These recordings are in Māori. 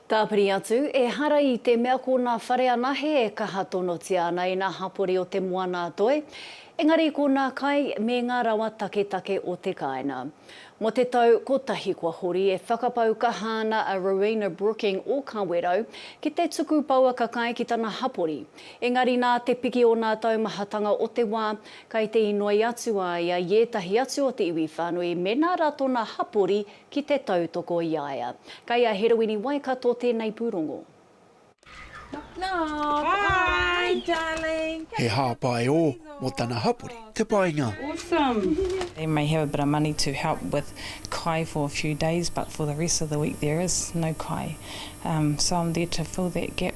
Tāpiri atu, ehara i te mea ko nā whare anahe e kaha tonotia ana i nā hapori o te moana-a-toi, engari ko nā kai me ngā rawa taketake o te kāinga. Mō te tau kotahi kua hori e whakapau kaha ana a Rowena Brooking o Kawerau ki te tuku pouaka kai ki tana hapori, engari nā te piki o nā taumahatanga o te wā, kai te inoi atu a ia i ētahi atu o te iwi whānui me nā rato nā hapori Ki te tautoko i a ia. Kei a Heroini Waikato tēnei pūrongo. Knock knock. Hi darling. He hāpai ō mō tana hapori te painga. Awesome. They may have a bit of money to help with kai for a few days but for the rest of the week there is no kai so I'm there to fill that gap.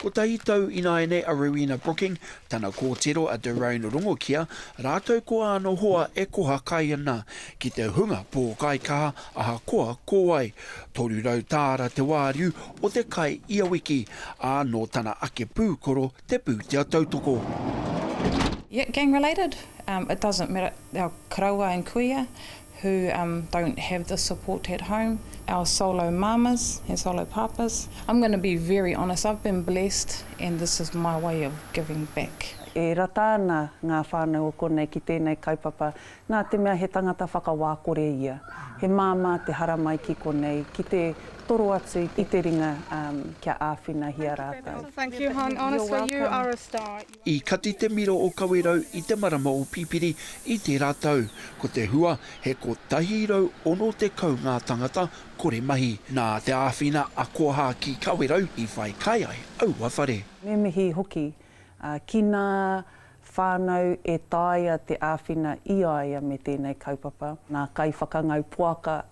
Kotahi tau ināianei a Rowena Brooking, tana kōtiro a Derone Rongokia rātou ko āna hoa e koha kai ana ki te hunga pōkaikaha ahakoa ko wai. Toru rau tāra te wāriu o te kai ia wiki, ā, nō tana ake pūkoro te pūtea tautoko. Yet gang related? It doesn't matter, our karaua and kuia, who um don't have the support at home, our solo mamas and solo papas, I'm gonna be very honest, I've been blessed and this is my way of giving back. E rata ana ngā whānau o konei ki tēnei kaupapa nā te mea he tangata whakawā kore ia. He māmā te haramai ki konei ki te toro atu i te ringa um kia āwhinahia rātou. Thank you hon, honestly you are a star. I kati te miro o Kawerau i te marama o Pipiri i tērā tau. Ko te hua, he 160 ngā tangata kore mahi. Nā te āwhina a Koha ki Kawerau i whai kai ai aua whare. Me mihi hoki ki ngā whānau e taea te āwhina i a ia me tēnei kaupapa, ngā kaiwhakangau poaka,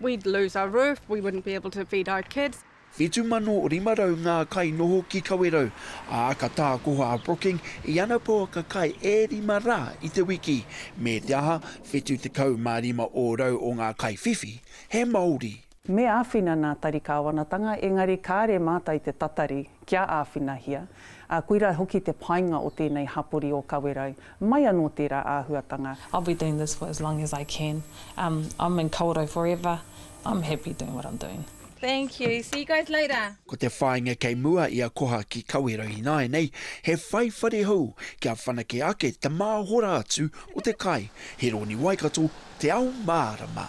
We'd lose our roof, we wouldn't be able to feed our kids. 7,500 ngā kai noho ki Kawerau, ā, ka tākoha a Brooking i ana pouaka kai e rima rā i te wiki. Me te aha, 75 ōrau o ngā kai whiwhi, he Māori. Me āwhina nā Tari Kāwanatanga, engari kāre mātou te tatari kia āwhinahia, ā, koirā hoki te painga o tēnei hapori o Kawerau, Mai anō tērā āhuatanga. I'll be doing this for as long as I can. Um, I'm in Kawerau forever. I'm happy doing what I'm doing. Thank you. See you guys later. Ko te whāinga kei mua i a Koha ki Kawerau ināianei, he whai whare hou kia whanake ake te māhora atu o te kai, he rōni Waikato te ao mārama.